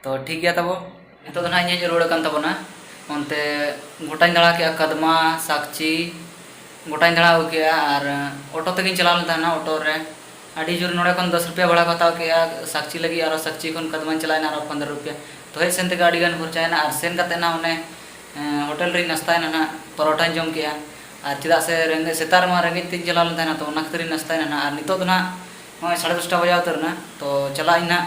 ᱛᱚ ᱴᱷᱤᱠ ᱜᱮᱭᱟ ᱛᱟᱵᱚ ᱱᱤᱛᱚᱜ ᱫᱚ ᱱᱟᱦᱟᱜ ᱤᱧᱤᱧ ᱨᱩᱣᱟᱹᱲ ᱟᱠᱟᱱ ᱛᱟᱵᱚᱱᱟ ᱚᱱᱛᱮ ᱜᱚᱴᱟᱧ ᱫᱟᱬᱟ ᱠᱮᱜᱼᱟ ᱠᱟᱫᱢᱟ ᱥᱟᱠᱪᱤ ᱜᱚᱴᱟᱧ ᱫᱟᱬᱟ ᱟᱹᱜᱩ ᱠᱮᱜᱼᱟ ᱟᱨ ᱚᱴᱳ ᱛᱮᱜᱮᱧ ᱪᱟᱞᱟᱣ ᱞᱮᱱ ᱛᱟᱦᱮᱱᱟ ᱚᱴᱳ ᱨᱮ ᱟᱹᱰᱤ ᱡᱳᱨ ᱱᱚᱰᱮ ᱠᱷᱚᱱ ᱫᱚᱥ ᱨᱩᱯᱤᱭᱟ ᱵᱷᱟᱲᱟ ᱠᱚ ᱦᱟᱛᱟᱣ ᱠᱮᱜᱼᱟ ᱥᱟᱠᱪᱤ ᱞᱟᱹᱜᱤᱫ ᱟᱨ ᱥᱟᱠᱪᱤ ᱠᱷᱚᱱ ᱠᱟᱫᱢᱟᱧ ᱪᱟᱞᱟᱣ ᱮᱱᱟ ᱟᱨᱚ ᱯᱚᱱᱨᱚ ᱨᱩᱯᱤᱭᱟ ᱛᱚ ᱦᱮᱡ ᱥᱮᱱ ᱛᱮᱜᱮ ᱟᱹᱰᱤ ᱜᱟᱱ ᱠᱷᱚᱨᱪᱟᱭᱮᱱᱟ ᱟᱨ ᱥᱮᱱ ᱠᱟᱛᱮᱫ ᱱᱟᱦᱟᱜ ᱚᱱᱮ ᱦᱳᱴᱮᱞ ᱨᱮᱧ ᱱᱟᱥᱛᱟᱭᱮᱱᱟ ᱱᱟᱦᱟᱜ ᱯᱚᱨᱚᱴᱟᱧ ᱡᱚᱢ ᱠᱮᱜᱼᱟ ᱟᱨ ᱪᱮᱫᱟᱜ ᱥᱮ ᱨᱮᱸᱜᱮᱡ ᱥᱮᱛᱟᱜ ᱨᱮᱢᱟ ᱨᱮᱸᱜᱮᱡ ᱛᱤᱧ ᱪᱟᱞᱟᱣ ᱞᱮᱱ ᱛᱟᱦᱮᱱᱟ ᱛᱚ ᱚᱱᱟ ᱠᱷᱟᱹᱛᱤᱨ ᱤᱧ ᱱᱟᱥᱛᱟᱭᱮᱱᱟ ᱱᱟᱦᱟᱜ ᱟᱨ ᱱᱤᱛᱚᱜ ᱫᱚ ᱱᱟᱦᱟᱜ ᱱᱚᱜᱼᱚᱸᱭ ᱥᱟᱲᱮ ᱫᱚᱥᱴᱟ ᱵᱟᱡᱟᱣ ᱩᱛᱟᱹᱨᱮᱱᱟ ᱛᱚ ᱪᱟᱞᱟᱜ ᱟᱹᱧ ᱱᱟᱦᱟᱜ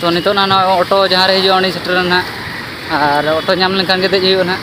ᱛᱚ ᱱᱤᱛᱚᱜ ᱱᱟ ᱱᱚᱜᱼᱚᱭ ᱚᱴᱳ ᱡᱟᱦᱟᱸ ᱨᱮ ᱦᱤᱡᱩᱜᱼᱟ ᱩᱱᱤ ᱥᱮᱴᱮᱨ ᱮᱱᱟ ᱟᱨ ᱚᱴᱳ ᱧᱟᱢ ᱞᱮᱱᱠᱷᱟᱱ ᱜᱮ ᱫᱮᱡ ᱦᱩᱭᱩᱜᱼᱟ ᱱᱟᱦᱟᱜ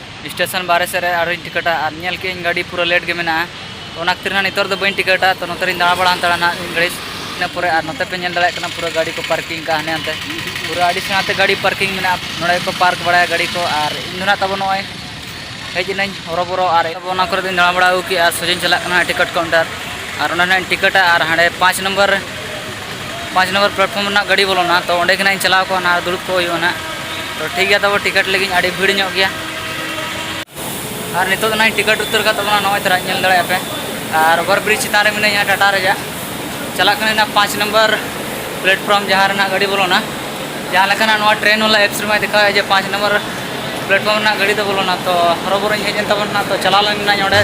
ᱥᱴᱮᱥᱚᱱ ᱵᱟᱨᱦᱮ ᱥᱮᱫ ᱨᱮ ᱟᱨᱦᱚᱸᱧ ᱴᱤᱠᱤᱴᱟ ᱟᱨ ᱧᱮᱞ ᱠᱮᱫ ᱟᱹᱧ ᱜᱟᱹᱰᱤ ᱯᱩᱨᱟᱹ ᱞᱮᱴ ᱜᱮ ᱢᱮᱱᱟᱜᱼᱟ ᱛᱚ ᱚᱱᱟ ᱠᱷᱟᱹᱛᱤᱨ ᱦᱟᱸᱜ ᱱᱤᱛᱚᱜ ᱨᱮᱫᱚ ᱵᱟᱹᱧ ᱴᱤᱠᱤᱴᱟ ᱛᱚ ᱱᱚᱛᱮ ᱨᱤᱧ ᱫᱟᱬᱟ ᱵᱟᱲᱟ ᱦᱟᱛᱟᱲᱟ ᱦᱟᱸᱜ ᱢᱤᱫ ᱜᱷᱟᱹᱲᱤᱡ ᱤᱱᱟᱹ ᱯᱚᱨᱮ ᱟᱨ ᱱᱚᱛᱮ ᱯᱮ ᱧᱮᱞ ᱫᱟᱲᱮᱭᱟᱜ ᱠᱟᱱᱟ ᱯᱩᱨᱟᱹ ᱜᱟᱹᱰᱤ ᱠᱚ ᱯᱟᱨᱠᱤᱝ ᱟᱠᱟᱫᱼᱟ ᱦᱟᱱᱮ ᱦᱟᱱᱛᱮ ᱯᱩᱨᱟᱹ ᱟᱹᱰᱤ ᱥᱮᱬᱟ ᱛᱮ ᱜᱟᱹᱰᱤ ᱯᱟᱨᱠᱤᱝ ᱢᱮᱱᱟᱜᱼᱟ ᱱᱚᱰᱮ ᱜᱮᱠᱚ ᱯᱟᱨᱠ ᱵᱟᱲᱟᱭᱟ ᱜᱟᱹᱰᱤ ᱠᱚ ᱟᱨ ᱤᱧ ᱫᱚ ᱦᱟᱸᱜ ᱛᱟᱵᱚ ᱱᱚᱜᱼᱚᱭ ᱦᱮᱡ ᱮᱱᱟᱹᱧ ᱦᱚᱨᱚᱵᱚᱨᱚ ᱟᱨ ᱚᱱᱟ ᱠᱚᱨᱮ ᱫᱚᱧ ᱫᱟᱬᱟ ᱵᱟᱲᱟ ᱟᱹᱜᱩ ᱠᱮᱫᱼᱟ ᱥᱚᱡᱷᱮᱧ ᱪᱟᱞᱟᱜ ᱠᱟᱱᱟ ᱴᱤᱠᱤᱴ ᱠᱟᱣᱩᱱᱴᱟᱨ ᱟᱨ ᱚᱸᱰᱮ ᱦᱟᱸᱜ ᱤᱧ ᱴᱤᱠᱤᱴᱟ ᱟᱨ ᱦᱟᱸᱰᱮ ᱯᱟᱸᱪ ᱱᱚᱢᱵᱚᱨ ᱯᱟᱸᱪ ᱱᱚᱢᱵᱚᱨ ᱯᱞᱟᱴᱯᱷᱚᱨᱢ ᱨᱮᱱᱟᱜ ᱜᱟᱹᱰᱤ ᱵᱚᱞᱚᱱᱟ ᱛᱚ ᱚᱸᱰᱮ ᱜᱮ ᱱᱟᱦᱟᱜ ᱤᱧ ᱪᱟᱞᱟᱣ ᱠᱚᱜᱼᱟ ᱱᱟᱦᱟᱜ ᱫᱩᱲᱩᱵ ᱠᱚᱜ ᱦᱩᱭᱩᱜᱼᱟ ᱱᱟᱦᱟᱜ ᱛᱚ ᱴᱷᱤᱠ ᱜᱮᱭᱟ ᱛᱚᱵᱮ ᱴᱤᱠᱤᱴ ᱞᱟᱹᱜᱤᱫ ᱟᱹᱰᱤ ᱵᱷᱤᱲ ᱧᱚᱜ ᱜᱮᱭᱟ ᱟᱨ ᱱᱤᱛᱚᱜ ᱫᱚ ᱱᱟᱦᱟᱜ ᱤᱧ ᱴᱤᱠᱤᱴ ᱩᱛᱟᱹᱨ ᱟᱠᱟᱫ ᱛᱟᱵᱚᱱᱟ ᱱᱚᱜᱼᱚᱭ ᱛᱚᱨᱟ ᱧᱮᱞ ᱫᱟᱲᱮᱭᱟᱜᱼᱟ ᱯᱮ ᱟᱨ ᱚᱵᱷᱟᱨ ᱵᱨᱤᱡᱽ ᱪᱮᱛᱟᱱ ᱨᱮ ᱢᱤᱱᱟᱹᱧᱟ ᱴᱟᱴᱟ ᱨᱮᱭᱟᱜ ᱪᱟᱞᱟᱜ ᱠᱟᱹᱱᱟᱹᱧ ᱱᱟᱦᱟᱜ ᱯᱟᱸᱪ ᱱᱚᱢᱵᱚᱨ ᱯᱞᱟᱴᱯᱷᱚᱨᱢ ᱡᱟᱦᱟᱸ ᱨᱮ ᱱᱟᱦᱟᱜ ᱜᱟᱹᱰᱤ ᱵᱚᱞᱚᱱᱟ ᱡᱟᱦᱟᱸ ᱞᱮᱠᱟᱱᱟᱜ ᱱᱚᱣᱟ ᱴᱨᱮᱱ ᱵᱟᱞᱟ ᱮᱯᱥ ᱨᱮᱢᱟᱭ ᱫᱮᱠᱷᱟᱣᱮᱫ ᱡᱮ ᱯᱟᱸᱪ ᱱᱚᱢᱵᱚᱨ ᱯᱞᱟᱴᱯᱷᱚᱨᱢ ᱨᱮᱱᱟᱜ ᱜᱟᱹᱰᱤ ᱫᱚ ᱵᱚᱞᱚᱱᱟ ᱛᱚ ᱦᱚᱨᱚᱵᱚᱨᱚᱧ ᱦᱮᱡ ᱮᱱ ᱛᱟᱵᱚᱱᱟ ᱛᱚ ᱪᱟᱞᱟᱣ ᱞᱮᱱᱟᱹᱧ ᱚᱸᱰᱮ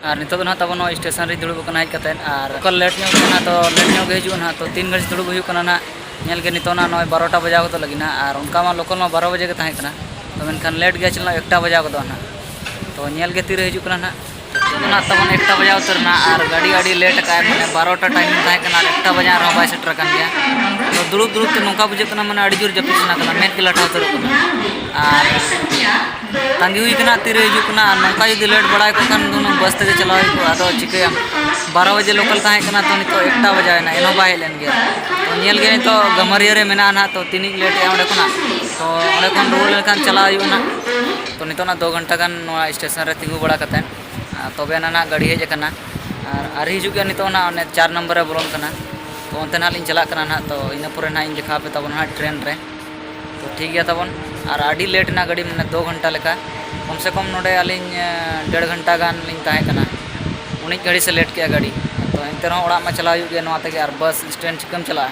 ᱟᱨ ᱱᱤᱛᱚᱜ ᱫᱚ ᱱᱟᱦᱟᱜ ᱛᱟᱵᱚᱱ ᱱᱚᱣᱟ ᱥᱴᱮᱥᱚᱱ ᱨᱮ ᱫᱩᱲᱩᱵ ᱟᱠᱟᱱᱟ ᱦᱮᱡ ᱠᱟᱛᱮᱫ ᱟᱨ ᱚᱠᱟ ᱞᱮᱴ ᱧᱚᱜ ᱠᱟᱱᱟ ᱛᱚ ᱞᱮᱴ ᱧᱚᱜ ᱜᱮ ᱦᱤᱡᱩᱜᱼᱟ ᱱᱟᱦᱟᱜ ᱛᱚ ᱛᱤᱱ ᱜᱷᱟᱹᱲᱤᱡ ᱫᱩᱲᱩᱵ ᱦᱩᱭᱩᱜ ᱠᱟᱱᱟ ᱱᱟᱦᱟᱜ ᱧᱮᱞ ᱜᱮ ᱱᱤᱛᱚᱜ ᱱᱟᱦᱟᱜ ᱱᱚᱜᱼᱚᱭ ᱵᱟᱨᱚᱴᱟ ᱵᱟᱡᱟᱣ ᱜᱚᱫᱚᱜ ᱞᱟᱹᱜᱤᱫ ᱱᱟᱦᱟᱜ ᱟᱨ ᱚᱱᱠᱟ ᱢᱟ ᱞᱳᱠᱟᱞ ᱢᱟ ᱵᱟᱨᱚ ᱵᱟᱡᱮ ᱜᱮ ᱛᱟᱦᱮᱸ ᱠᱟᱱᱟ ᱛᱚ ᱢᱮᱱᱠᱷᱟᱱ ᱞᱮᱴ ᱜᱮᱭᱟ ᱪᱮᱫᱟᱜ ᱮᱠᱴᱟ ᱵᱟᱡᱟᱣ ᱜᱚᱫᱚᱜᱼᱟ ᱱᱟᱦᱟᱜ ᱛᱚ ᱧᱮᱞ ᱜᱮ ᱛᱤᱨᱮ ᱦᱤᱡᱩᱜ ᱠᱟᱱᱟ ᱱᱟᱦᱟᱜ ᱚᱱᱟ ᱛᱟᱵᱚᱱ ᱮᱠᱴᱟ ᱵᱟᱡᱟᱣ ᱩᱛᱟᱹᱨᱱᱟ ᱟᱨ ᱜᱟᱹᱰᱤ ᱟᱹᱰᱤ ᱞᱮᱴ ᱟᱠᱟᱫ ᱢᱟᱱᱮ ᱵᱟᱨᱚᱴᱟ ᱴᱟᱭᱤᱢ ᱛᱟᱦᱮᱸ ᱠᱟᱱᱟ ᱟᱨ ᱮᱠᱴᱟ ᱵᱟᱡᱟᱣ ᱨᱮᱦᱚᱸ ᱵᱟᱭ ᱥᱮᱴᱮᱨ ᱟᱠᱟᱱ ᱜᱮᱭᱟ ᱛᱚ ᱫᱩᱲᱩᱵ ᱫᱩᱲᱩᱵ ᱛᱮ ᱱᱚᱝᱠᱟ ᱵᱩᱡᱷᱟᱹᱜ ᱠᱟᱱᱟ ᱢᱟᱱᱮ ᱟᱹᱰᱤ ᱡᱳᱨ ᱡᱟᱹᱯᱤᱫ ᱥᱟᱱᱟ ᱠᱟᱱᱟ ᱢᱮᱫ ᱜᱮ ᱞᱟᱴᱷᱟ ᱩᱛᱟᱹᱨᱚᱜ ᱠᱟᱱᱟ ᱟᱨ ᱛᱟᱺᱜᱤ ᱦᱩᱭ ᱠᱟᱱᱟ ᱛᱤᱨᱮ ᱦᱤᱡᱩᱜ ᱠᱟᱱᱟ ᱟᱨ ᱱᱚᱝᱠᱟ ᱡᱩᱫᱤ ᱞᱮᱴ ᱵᱟᱲᱟᱭ ᱠᱚ ᱠᱷᱟᱱ ᱫᱚ ᱵᱟᱥ ᱛᱮᱜᱮ ᱪᱟᱞᱟᱣ ᱦᱩᱭ ᱠᱚᱜᱼᱟ ᱟᱫᱚ ᱪᱤᱠᱟᱹᱭᱟᱢ ᱵᱟᱨᱚ ᱵᱟᱡᱮ ᱞᱳᱠᱟᱞ ᱛᱟᱦᱮᱸ ᱠᱟᱱᱟ ᱛᱚ ᱱᱤᱛᱚᱜ ᱮᱠᱴᱟ ᱵᱟᱡᱟᱣ ᱮᱱᱟ ᱮᱱᱦᱚᱸ ᱵᱟᱭ ᱦᱮᱡ ᱞᱮᱱ ᱜᱮᱭᱟ ᱛᱚ ᱧᱮᱞ ᱜᱮ ᱱᱤᱛᱚᱜ ᱜᱟᱹᱢᱟᱹᱨᱤᱭᱟᱹ ᱨᱮ ᱢᱮᱱᱟᱜᱼᱟ ᱱᱟᱦᱟᱜ ᱛᱚ ᱛᱤᱱᱤᱧ ᱞᱮᱴᱮᱜᱼᱟ ᱚᱸᱰᱮ ᱠᱷᱚᱱᱟᱜ ᱛᱚ ᱚᱸᱰᱮ ᱠᱷᱚᱱ ᱨᱩᱣᱟᱹᱲ ᱞᱮᱱᱠᱷᱟᱱ ᱪᱟᱞᱟᱣ ᱦᱩᱭᱩᱜᱼᱟ ᱱᱟᱦᱟᱜ ᱛᱚ ᱱᱤᱛᱚᱜ ᱱᱟᱦᱟᱜ ᱫᱩ ᱜᱷᱚᱱᱴᱟ ᱜᱟᱱ ᱱᱚᱣᱟ ᱥᱴᱮᱥᱚᱱ ᱨᱮ ᱛᱤᱸᱜᱩ ᱵᱟᱲᱟ ᱠᱟᱛᱮᱫ ᱛᱚᱵᱮ ᱟᱱᱟᱜ ᱱᱟᱦᱟᱜ ᱜᱟᱹᱰᱤ ᱦᱮᱡ ᱟᱠᱟᱱᱟ ᱟᱨ ᱟᱹᱣᱨᱤ ᱦᱤᱡᱩᱜ ᱜᱮᱭᱟ ᱱᱤᱛᱚᱜ ᱱᱟᱦᱟᱜ ᱚᱱᱮ ᱪᱟᱨ ᱱᱟᱢᱵᱟᱨ ᱨᱮ ᱵᱚᱞᱚᱱ ᱠᱟᱱᱟ ᱛᱚ ᱚᱱᱛᱮ ᱱᱟᱦᱟᱜ ᱞᱤᱧ ᱪᱟᱞᱟᱜ ᱠᱟᱱᱟ ᱱᱟᱦᱟᱜ ᱛᱚ ᱤᱱᱟᱹ ᱯᱚᱨᱮ ᱱᱟᱦᱟᱜ ᱤᱧ ᱫᱮᱠᱷᱟᱣ ᱟᱯᱮ ᱛᱟᱵᱚᱱ ᱱᱟᱦᱟᱜ ᱴᱨᱮᱱ ᱨᱮ ᱛᱚ ᱴᱷᱤᱠ ᱜᱮᱭᱟ ᱛᱟᱵᱚᱱ ᱟᱨ ᱟᱹᱰᱤ ᱞᱮᱴ ᱮᱱᱟ ᱜᱟᱹᱰᱤ ᱢᱟᱱᱮ ᱫᱩ ᱜᱷᱚᱱᱴᱟ ᱞᱮᱠᱟ ᱠᱚᱢ ᱥᱮ ᱠᱚᱢ ᱱᱚᱰᱮ ᱟᱹᱞᱤᱧ ᱰᱮᱲ ᱜᱷᱚᱱᱴᱟ ᱜᱟᱱ ᱞᱤᱧ ᱛᱟᱦᱮᱸ ᱠᱟᱱᱟ ᱩᱱᱟᱹᱜ ᱜᱷᱟᱹᱲᱤᱡ ᱥᱮ ᱞᱮᱴ ᱠᱮᱫᱼᱟ ᱜᱟᱹᱰᱤ ᱛᱚ ᱮᱱᱛᱮ ᱨᱮᱦᱚᱸ ᱚᱲᱟᱜ ᱢᱟ ᱪᱟᱞᱟᱣ ᱦᱩᱭᱩᱜ ᱜᱮᱭᱟ ᱱᱚᱣᱟ ᱛᱮᱜᱮ ᱟᱨ ᱵᱟᱥ ᱥᱴᱮᱱᱰ ᱪᱤᱠᱟᱹᱢ ᱪᱟᱞᱟᱜᱼᱟ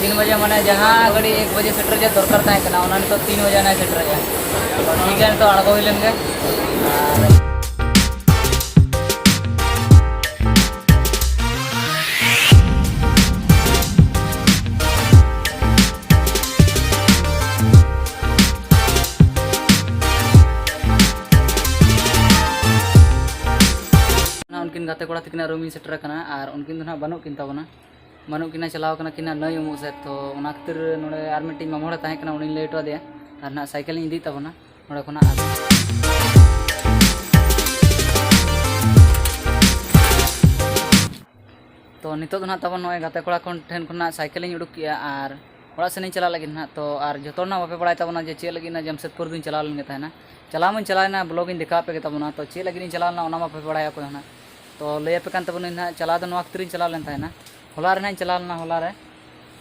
ᱛᱤᱱ ᱵᱟᱡᱮ ᱢᱟᱱᱮ ᱡᱟᱦᱟᱸ ᱜᱟᱹᱰᱤ ᱮᱠ ᱵᱟᱡᱮ ᱥᱮᱴᱮᱨ ᱨᱮᱭᱟᱜ ᱫᱚᱨᱠᱟᱨ ᱛᱟᱦᱮᱸ ᱠᱟᱱᱟ ᱚᱱᱟ ᱱᱤᱛᱚᱜ ᱛᱤᱱ ᱵᱟᱡᱮ ᱱᱟᱭ ᱥᱮᱴᱮᱨ ᱨᱮᱭᱟᱜ ᱴᱷᱤᱠ ᱜᱮᱭᱟ ᱱᱤᱛᱚᱜ ᱟᱬᱜᱚ ᱦᱩᱭ ᱞᱮᱱ ᱜᱮ ᱩᱱᱠᱤᱱ ᱜᱟᱛᱮ ᱠᱚᱲᱟ ᱛᱟᱹᱠᱤᱱᱟᱜ ᱨᱩᱢ ᱤᱧ ᱥᱮᱴᱮᱨ ᱟᱠᱟᱱᱟ ᱟᱨ ᱩᱱᱠᱤᱱ ᱫᱚ ᱱᱟᱦᱟᱜ ᱵᱟᱹᱱᱩᱜ ᱠᱤᱱ ᱛᱟᱵᱚᱱᱟ ᱵᱟᱹᱱᱩᱜ ᱠᱤᱱᱟ ᱪᱟᱞᱟᱣ ᱠᱟᱱᱟ ᱠᱤᱱᱟ ᱱᱟᱹᱭ ᱩᱢᱩᱜ ᱥᱮᱫ ᱛᱚ ᱚᱱᱟ ᱠᱷᱟᱹᱛᱤᱨ ᱱᱚᱰᱮ ᱟᱨ ᱢᱤᱫᱴᱤᱡ ᱢᱟᱢᱟ ᱦᱚᱲᱮ ᱛᱟᱦᱮᱸ ᱠᱟᱱᱟ ᱩᱱᱤᱧ ᱞᱟᱹᱭ ᱦᱚᱴᱚ ᱟᱫᱮᱭᱟ ᱟᱨ ᱱᱟᱦᱟᱜ ᱥᱟᱭᱠᱮᱞᱤᱧ ᱤᱫᱤᱭᱮᱫ ᱛᱟᱵᱚᱱᱟ ᱱᱚᱰᱮ ᱠᱷᱚᱱᱟᱜ ᱛᱚ ᱱᱤᱛᱚᱜ ᱫᱚ ᱱᱟᱦᱟᱜ ᱛᱟᱵᱚᱱ ᱱᱚᱜᱼᱚᱭ ᱜᱟᱛᱮ ᱠᱚᱲᱟ ᱠᱷᱚᱱ ᱴᱷᱮᱱ ᱠᱷᱚᱱᱟᱜ ᱥᱟᱭᱠᱮᱞᱤᱧ ᱩᱰᱩᱠ ᱠᱮᱜᱼᱟ ᱟᱨ ᱚᱲᱟᱜ ᱥᱮᱱᱤᱧ ᱪᱟᱞᱟᱜ ᱞᱟᱹᱜᱤᱫ ᱱᱟᱦᱟᱜ ᱛᱚ ᱟᱨ ᱡᱚᱛᱚ ᱦᱚᱲ ᱱᱟᱦᱟᱜ ᱵᱟᱯᱮ ᱵᱟᱲᱟᱭ ᱛᱟᱵᱚᱱᱟ ᱡᱮ ᱪᱮᱫ ᱞᱟᱹᱜᱤᱫ ᱱᱟᱦᱟᱜ ᱡᱟᱢᱥᱮᱫᱽᱯᱩᱨ ᱫᱚᱧ ᱪᱟᱞᱟᱣ ᱞᱮᱱ ᱜᱮ ᱛᱟᱦᱮᱱᱟ ᱪᱟᱞᱟᱣ ᱢᱟᱧ ᱪᱟᱞᱟᱣᱮᱱᱟ ᱵᱞᱚᱜᱤᱧ ᱫᱮᱠᱷᱟᱣ ᱟᱯᱮ ᱜᱮ ᱛᱟᱵᱚᱱᱟ ᱛᱚ ᱪᱮᱫ ᱞᱟᱹᱜᱤᱫ ᱤᱧ ᱪᱟᱞᱟᱣ ᱞᱮᱱᱟ ᱚᱱᱟ ᱢᱟ ᱵᱟᱯᱮ ᱵᱟᱲᱟᱭᱟ ᱚᱠᱚᱭ ᱦᱚᱸ ᱱᱟᱦᱟᱜ ᱛᱚ ᱞᱟᱹᱭ ᱟᱯᱮ ᱠᱟᱱ ᱛᱟᱵᱚᱱᱟᱹᱧ ᱱᱟᱦᱟᱜ ᱪᱟᱞᱟᱣ ᱫᱚ ᱱᱚᱣᱟ ᱠᱷᱟᱹᱛᱤᱨᱤᱧ ᱪᱟᱞᱟᱣ ᱞᱮᱱ ᱛᱟᱦᱮᱱᱟ ᱦᱚᱞᱟ ᱨᱮ ᱱᱟᱦᱟᱜ ᱤᱧ ᱪᱟᱞᱟᱣ ᱞᱮᱱᱟ ᱦᱚᱞᱟ ᱨᱮ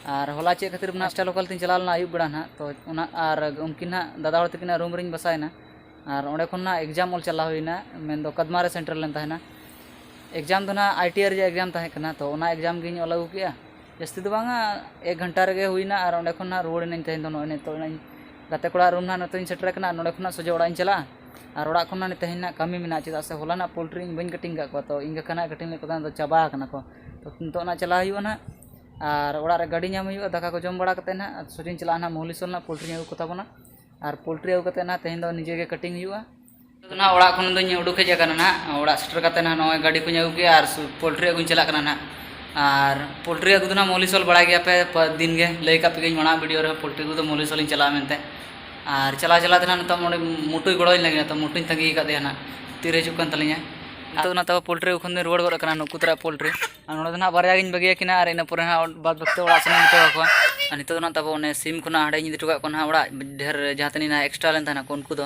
ᱟᱨ ᱦᱚᱞᱟ ᱪᱮᱫ ᱠᱷᱟᱹᱛᱤᱨ ᱱᱟᱦᱟᱜ ᱥᱴᱟᱨ ᱞᱳᱠᱟᱞ ᱛᱤᱧ ᱪᱟᱞᱟᱣ ᱞᱮᱱᱟ ᱟᱹᱭᱩᱵ ᱵᱮᱲᱟ ᱱᱟᱦᱟᱜ ᱛᱚ ᱚᱱᱟ ᱟᱨ ᱩᱱᱠᱤᱱ ᱱᱟᱦᱟᱜ ᱫᱟᱫᱟ ᱦᱚᱲ ᱛᱟᱹᱠᱤᱱᱟᱜ ᱨᱩᱢ ᱨᱤᱧ ᱵᱟᱥᱟᱭᱮᱱᱟ ᱟᱨ ᱚᱸᱰᱮ ᱠᱷᱚᱱ ᱱᱟᱦᱟᱜ ᱮᱠᱡᱟᱢ ᱚᱞ ᱪᱟᱞᱟᱣ ᱦᱩᱭᱱᱟ ᱢᱮᱱᱫᱚ ᱠᱟᱫᱢᱟ ᱨᱮ ᱥᱮᱱᱴᱟᱨ ᱞᱮᱱ ᱛᱟᱦᱮᱱᱟ ᱮᱠᱡᱟᱢ ᱫᱚ ᱱᱟᱦᱟᱜ ᱟᱭ ᱴᱤ ᱟᱭ ᱨᱮᱭᱟᱜ ᱮᱠᱡᱟᱢ ᱛᱟᱦᱮᱸ ᱠᱟᱱᱟ ᱛᱚ ᱚᱱᱟ ᱮᱠᱡᱟᱢ ᱜᱤᱧ ᱚᱞ ᱟᱹᱜᱩ ᱠᱮᱫᱼᱟ ᱡᱟᱹᱥᱛᱤ ᱫᱚ ᱵᱟᱝᱟ ᱮᱠ ᱜᱷᱚᱱᱴᱟ ᱨᱮᱜᱮ ᱦᱩᱭᱱᱟ ᱟᱨ ᱚᱸᱰᱮ ᱠᱷᱚᱱ ᱱᱟᱦᱟᱜ ᱨᱩᱣᱟᱹᱲ ᱮᱱᱟᱹᱧ ᱛᱮᱦᱮᱧ ᱫᱚ ᱱᱚᱜᱼᱚᱭ ᱱᱤᱛᱚᱜ ᱱᱟᱦᱟᱜ ᱤᱧ ᱜᱟᱛᱮ ᱠᱚᱲᱟ ᱨᱩᱢ ᱱᱟᱦᱟᱜ ᱱᱤᱛᱚᱜ ᱤᱧ ᱥᱮᱴᱮᱨ ᱟᱠᱟᱱᱟ ᱟᱨ ᱱᱚᱸᱰᱮ ᱠᱷᱚᱱᱟᱜ ᱥᱚᱡᱷᱮ ᱚᱲᱟᱜ ᱤᱧ ᱪᱟᱞᱟᱜᱼᱟ ᱟᱨ ᱚᱲᱟᱜ ᱠᱷᱚᱱ ᱱᱟᱦᱟᱜ ᱛᱮᱦᱮᱧ ᱱᱟᱦᱟᱜ ᱠᱟᱹᱢᱤ ᱢᱮᱱᱟᱜᱼᱟ ᱪᱮᱫᱟᱜ ᱥᱮ ᱦᱚᱞᱟ ᱱᱟᱦᱟᱜ ᱯᱳᱞᱴᱨᱤ ᱤᱧ ᱵᱟᱹᱧ ᱠᱟᱹᱴᱤᱝ ᱟᱠᱟᱫ ᱠᱚᱣᱟ ᱛᱚ ᱤᱧ ᱜᱟᱠᱷᱟ ᱱᱟᱦᱟᱜ ᱠᱟᱹᱴᱤᱝ ᱞᱮᱠᱚ ᱠᱷᱟᱱ ᱫᱚ ᱪᱟᱵᱟ ᱟᱠᱟᱱᱟ ᱠᱚ ᱛᱚ ᱱᱤᱛᱚᱜ ᱱᱟᱦᱟᱜ ᱪᱟᱞᱟᱜ ᱦᱩᱭᱩᱜᱼᱟ ᱱᱟᱦᱟᱜ ᱟᱨ ᱚᱲᱟᱜ ᱨᱮ ᱜᱟᱹᱰᱤ ᱧᱟᱢ ᱦᱩᱭᱩᱜᱼᱟ ᱫᱟᱠᱟ ᱠᱚ ᱡᱚᱢ ᱵᱟᱲᱟ ᱠᱟᱛᱮᱫ ᱱᱟᱦᱟᱜ ᱥᱚᱡᱷᱮᱧ ᱪᱟᱞᱟᱜᱼᱟ ᱱᱟᱦᱟᱜ ᱢᱚᱦᱞᱮᱥᱥᱚᱨ ᱱᱟᱦᱟᱜ ᱯᱳᱞᱴᱨᱤᱧ ᱟᱹᱜᱩ ᱠᱚᱛᱟ ᱵᱚᱱᱟ ᱟᱨ ᱯᱳᱞᱴᱨᱤ ᱟᱹᱜᱩ ᱠᱟᱛᱮᱫ ᱱᱟᱦᱟᱜ ᱛᱮᱦᱮᱧ ᱫᱚ ᱱᱤᱡᱮ ᱜᱮ ᱠᱟᱹᱴᱤᱝ ᱦᱩᱭᱩᱜᱼᱟ ᱱᱟᱦᱟᱜ ᱚᱲᱟᱜ ᱠᱷᱚᱱ ᱫᱚᱧ ᱩᱰᱩᱠ ᱦᱮᱡ ᱟᱠᱟᱱᱟ ᱱᱟᱦᱟᱜ ᱚᱲᱟᱜ ᱥᱮᱴᱮᱨ ᱠᱟᱛᱮᱫ ᱱᱟᱦᱟᱜ ᱱᱚᱜᱼᱚᱭ ᱜᱟᱹᱰᱤ ᱠᱚᱧ ᱟᱹᱜᱩ ᱠᱮᱫᱼᱟ ᱟᱨ ᱯᱳᱞᱴᱨᱤ ᱟᱹᱜᱩᱧ ᱪᱟᱞᱟᱜ ᱠᱟᱱᱟ ᱱᱟᱦᱟᱜ ᱟᱨ ᱯᱳᱞᱴᱨᱤ ᱟᱹᱜᱩ ᱫᱚ ᱱᱟᱦᱟᱜ ᱢᱩᱞᱤᱥ ᱦᱚᱲ ᱵᱟᱲᱟᱭ ᱜᱮᱭᱟᱯᱮ ᱫᱤᱱ ᱜᱮ ᱞᱟᱹᱭ ᱟᱠᱟᱫ ᱯᱮᱜᱮᱭᱟᱹᱧ ᱢᱟᱲᱟᱝ ᱵᱷᱤᱰᱤᱭᱳ ᱨᱮᱦᱚᱸ ᱯᱳᱞᱴᱨᱤ ᱟᱹᱜᱩ ᱫᱚ ᱢᱩᱞᱤᱥ ᱦᱚᱲᱤᱧ ᱪᱟᱞᱟᱜᱼᱟ ᱢᱮᱱᱛᱮ ᱟᱨ ᱪᱟᱞᱟᱣ ᱪᱟᱞᱟᱣ ᱛᱮ ᱱᱟᱦᱟᱜ ᱱᱤᱛᱚᱜ ᱱᱚᱰᱮ ᱢᱩᱴᱩᱭ ᱜᱚᱲᱚ ᱟᱹᱧ ᱞᱟᱹᱜᱤᱫ ᱛᱚ ᱢᱩᱴᱩᱧ ᱛᱟᱺᱜᱤ ᱟᱠᱟᱫᱮᱭᱟ ᱱᱟᱦᱟᱜ ᱛᱤᱨᱮ ᱦᱤᱡᱩᱜ ᱠᱟᱱ ᱛᱟᱹᱞᱤᱧᱟᱭ ᱱᱤᱛᱚᱜ ᱱᱟᱦᱟᱜ ᱛᱟᱣ ᱯᱳᱞᱴᱨᱤ ᱟᱹᱜᱩ ᱠᱷᱚᱱ ᱫᱚᱧ ᱨᱩᱣᱟᱹᱲ ᱜᱚᱫ ᱟᱠᱟᱱᱟ ᱱᱩᱠᱩ ᱛᱟᱨᱟᱜ ᱯᱳᱞᱴᱨᱤ ᱟᱨ ᱱᱚᱰᱮ ᱫᱚ ᱱᱟᱦᱟᱜ ᱵᱟᱨᱭᱟ ᱜᱤᱧ ᱵᱟᱹᱜᱤ ᱟᱹᱠᱤᱱᱟ ᱟᱨ ᱤᱱᱟᱹ ᱯᱚᱨᱮ ᱱᱟᱦᱟᱜ ᱵᱟᱫᱽ ᱵᱟᱹᱠᱤ ᱫᱚ ᱚᱲᱟᱜ ᱥᱮᱱ ᱤᱧ ᱤᱫᱤ ᱦᱚᱴᱚ ᱠᱟᱠᱚᱣᱟ ᱟᱨ ᱱᱤᱛᱚᱜ ᱫᱚ ᱱᱟᱦᱟᱜ ᱛᱟᱵᱚ ᱚᱱᱮ ᱥᱤᱢ ᱠᱚ ᱱᱟᱦᱟᱜ ᱦᱟᱸᱰᱮᱧ ᱤᱫᱤ ᱦᱚᱴᱚ ᱠᱟᱜ ᱠᱚᱣᱟ ᱱᱟᱦᱟᱜ ᱚᱲᱟᱜ ᱰᱷᱮᱨ ᱡᱟᱦᱟᱸ ᱛᱤᱱᱟᱹᱜ ᱱᱟᱦᱟᱜ ᱮᱠᱥᱴᱨᱟ ᱞᱮᱱ ᱛᱟᱦᱮᱱᱟᱠᱚ ᱩᱱᱠᱩ ᱫᱚ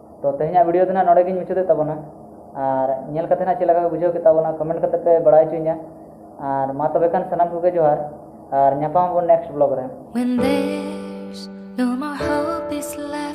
ᱛᱚ ᱛᱮᱦᱮᱧᱟᱜ ᱵᱷᱤᱰᱤᱭᱳ ᱫᱚ ᱱᱟᱜ ᱱᱚᱰᱮ ᱜᱤᱧ ᱢᱩᱪᱟᱹᱫᱮᱫ ᱛᱟᱵᱚᱱᱟ ᱟᱨ ᱧᱮᱞ ᱠᱟᱛᱮ ᱱᱟᱜ ᱪᱮᱫ ᱞᱮᱠᱟ ᱯᱮ ᱵᱩᱡᱷᱟᱹᱣ ᱠᱮᱫ ᱛᱟᱵᱚᱱᱟ ᱠᱚᱢᱮᱱᱴ ᱠᱟᱛᱮ ᱯᱮ ᱵᱟᱲᱟᱭ ᱦᱚᱪᱚᱧᱟ ᱟᱨ ᱢᱟ ᱛᱚᱵᱮ ᱠᱷᱟᱱ ᱥᱟᱱᱟᱢ ᱠᱚᱜᱮ ᱡᱚᱦᱟᱨ ᱟᱨ ᱧᱟᱯᱟᱢ ᱟᱵᱚᱱ ᱱᱮᱠᱥᱴ ᱵᱞᱚᱜ ᱨᱮ